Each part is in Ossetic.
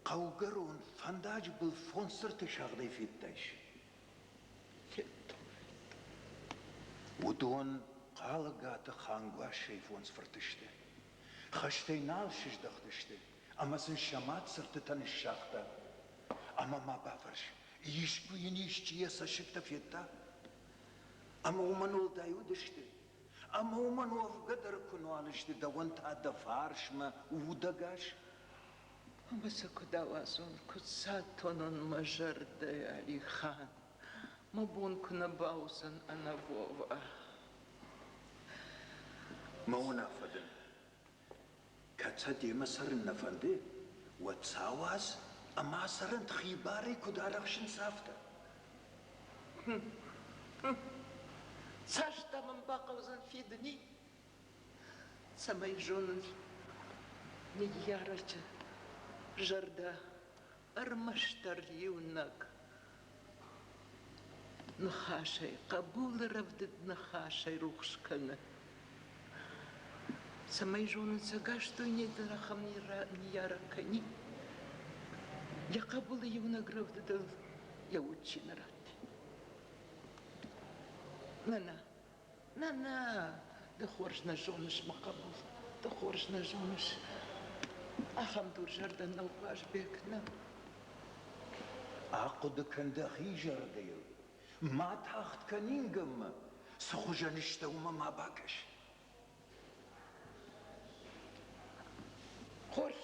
хъӕугӕрон фӕндаджы был фондз цырты сагъдӕй федтайс. Уыдон Хъалыгаты хангуассӕй фондз фырты сты. Хӕстӕй нал сыздӕхтысты, ӕмӕ сын сӕ мад цыртытӕ ныссагъта. Ӕмӕ ма бафӕрс, искуы йын исчи йӕ цӕссыгтӕ федта? Ӕмӕ уымӕн уӕлдай уыдысты, Ӕмӕ уымӕн уӕвгӕ дӕр куы нуал сты дӕуӕн та дӕ фарсмӕ удӕгас. Ӕмӕ цы куыд ауадзон, куыд сатонон мӕ зӕрдӕ, Алихан, мӕ бон куы нӕ бауыдзӕн ӕнӕ Вова. Мӕ уынаффӕ дын Кӕд сӕ демӕ цӕрын нӕ фӕнды, уӕд сӕ ауадз ӕмӕ сӕрӕн хи барӕй куыд арӕхсынц, афтӕ. Цас та мын бахъӕудзӕн фидыни, цӕмӕй зонын, ныййарӕджы зӕрдӕ ӕрмӕстдӕр иунӕг ныхасӕй, хъӕбулы рӕвдыд ныхасӕй рухс кӕны. Цӕмӕй зонын сӕ гӕстойнӕй дӕр ахӕм ныййарӕг кӕни. Йӕ хъӕбулы иунӕг рӕвдыдыл йӕ уд чи нӕ ратти. Нана, Нӕ, нӕ, ды хорз нӕ зоныс, мӕ хъӕбул, ды хорз нӕ зоныс. Ахӕм дурзӕрдӕ нӕу Уазбек, нӕ. Ахъуыды кӕн дӕхи зӕрдӕйыл. Ма тагъд кӕн ингӕнмӕ, цы хуызӕн ыстӕ уымӕ ма бакӕс. Хорз,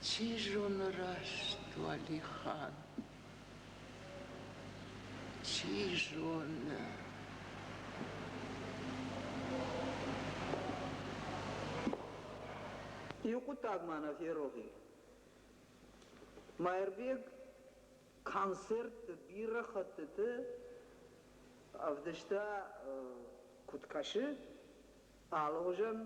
Чи зоны раст, Уалихан, чи зоны... Иу хъуыддаг ма нӕ ферох и. Маирбег концертты бирӕ хӕттыты ӕвдыста, куыд кӕсы, Алыгъуызон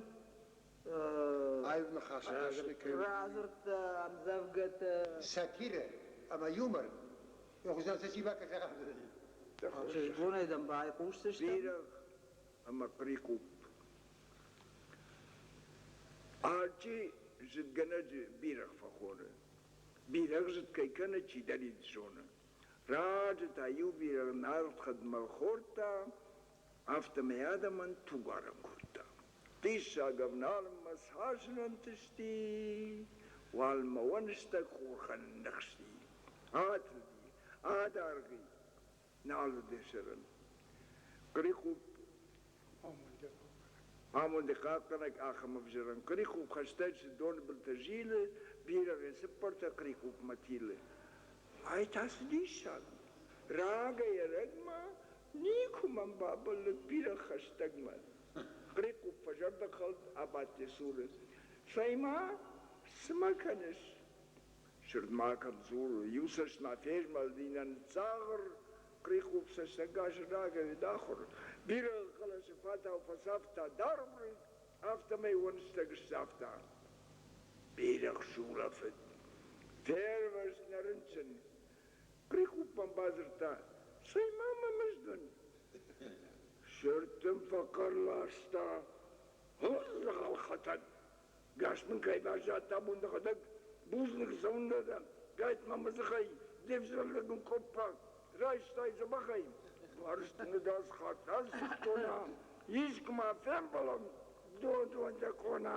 аив ныхасы техникӕ. Радзырдта ӕмдзӕвгӕты. Сатирӕ ӕмӕ юмор Ӕгъуызӕн-фӕсивӕд бонӕй дӕм байхъусдзыстӕм. Бирӕгъ ӕмӕ прикъупп. Алчи зыдгӕнӕджы бирӕгъ фӕхоны. Бирӕгъ зыд кӕй кӕны, чидӕр ид зоны. Раджы та иу бирӕгъ нард хӕдмӕ хордта, афтӕмӕй адӕмӕн тугуарӕн кодта. Хъиссаг ӕвналынмӕ цасын ӕнтысти, уалмӕ уӕныстӕг хохӕн ныхсти, атылди, адӕргъи, нал уыди зырын. Хърихъупп, амонды хъахъхъӕнӕг ахӕм ӕвзӕрӕн хърихъупп хӕстӕджыты доны былтӕ зилы, бирӕгъӕй цыппӕртӕ хърихъуппмӕ тилы. Ай та цы диссаг у! Рагӕй-ӕрӕгмӕ Никуы мӕм бабӕллыд бирӕ хӕстӕгмӕ. Грекъуп фӕзӕрдӕхъӕлд абадти цуры. Цӕй-ма, цы мӕ кӕныс? Сырд ма кӕм дзуры, иу цӕст ма фезмӕлди нӕ ныдздзагъыр, Грекъуп цӕстӕг азы рагӕвид ахуыр, бирӕ хъӕлӕсы фатау фӕцавта даргъ рыг, афтӕмӕй уӕнгстӕг сцавта. Бирӕгъ сулӕфыд. Фервӕзт нӕ рынчын. Прикъуппӕн бадзырдта, Цӕй-ма мӕ мызд уын. Сырд ын фӕхъӕр ласта, Хорздзӕгъӕл хӕтӕн! Гӕс мын кӕй баззадта бундыгъӕдӕг, бузныг цӕуын нӕ дӕн, гӕтт-ма мӕ дзыхӕй де взӕргӕ гуын къоппа, райстай дзӕбӕхӕй, бӕрзтыныгӕс хатт асыгътона, искуы ма фембӕлӕм дон-дон дӕ къона.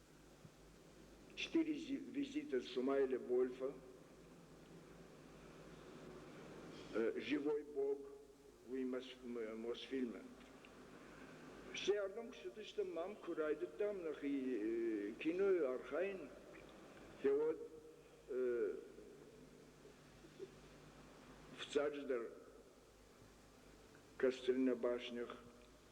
четыре визита сумайли вольфа живой бог уый мосфильмы всеӕрдӕм куыстыдыстӕм мам куы райдыдтам нӕхи кинойы архайын фӕуӕд фыццаджыдӕр кастрина башнях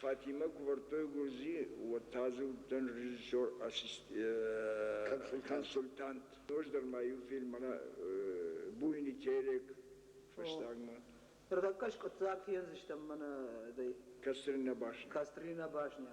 Фатимӕ кувӕрдтой гуырдзи, уӕд та дзы уыдтӕн режиссер, консультант. Ноджыдӕр ма иу фильммӕ Буйный телек фӕстагмӕ. Ӕртӕккӕ скъуыддзаг фендзыстӕм мӕнӕ дӕ. Кострина башня. Кострина башня.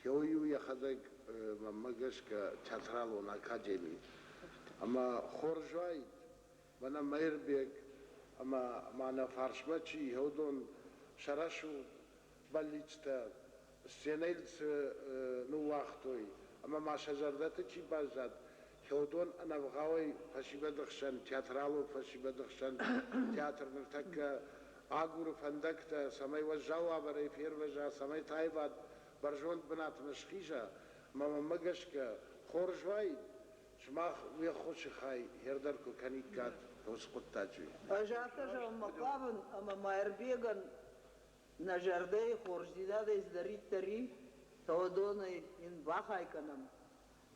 Теой-у йӕхӕдӕг мӕнмӕ гӕсгӕ театралон академи ӕмӕ хорз уаид, мӕнӕ Мӕирбег ӕмӕ ма нӕ фарсмӕ чи иһӕудон сӕ рӕсугъд бӕллицтӕ сценӕйыл цы ныууагътой ӕмӕ ма сӕ зӕрдӕты чи баззад, Теодон ӕнӕвгъауӕй фӕсивӕды хсӕн, театралон фӕсивӕды хсӕн театр ныртӕккӕ агуры фӕндӕгтӕ, цӕмӕй уӕззау уавӕрӕй фервӕза, цӕмӕй таивад бӕрзонд бынатмӕ схиза. Мӕмӕмӕ гӕсгӕ, хорз уаид, сымах уе ххуысы хай хер дӕр куы кӕниккат уыцы хъуыддаджы. Ӕз афтӕ зӕгъынмӕ хъавын, ӕмӕ Маирбегӕн нӕ зӕрдӕйы хорздзинадӕй цыдӕриддӕр и, Теодонӕй йын бахай кӕнӕм.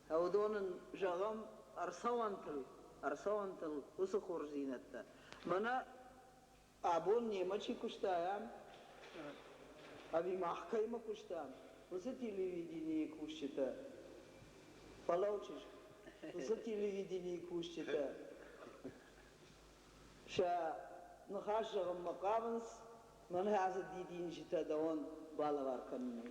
Теодон ын зӕгъӕм ӕрцӕуӕнтыл, ӕрцӕуӕнтыл уыцы хорздзинӕдтӕ. Мӕнӕ абон немӕ чи куыста, ӕви мах кӕимӕ куыстам, уыцы телевиденийы кусджытӕ. Фӕлӕуджыз, уыцы телевиденийы кусджытӕ сӕ ныхас зӕгъынмӕ хъавынц, мӕнӕ ацы дидинджытӕ дӕуӕн балӕвар кӕнынӕй.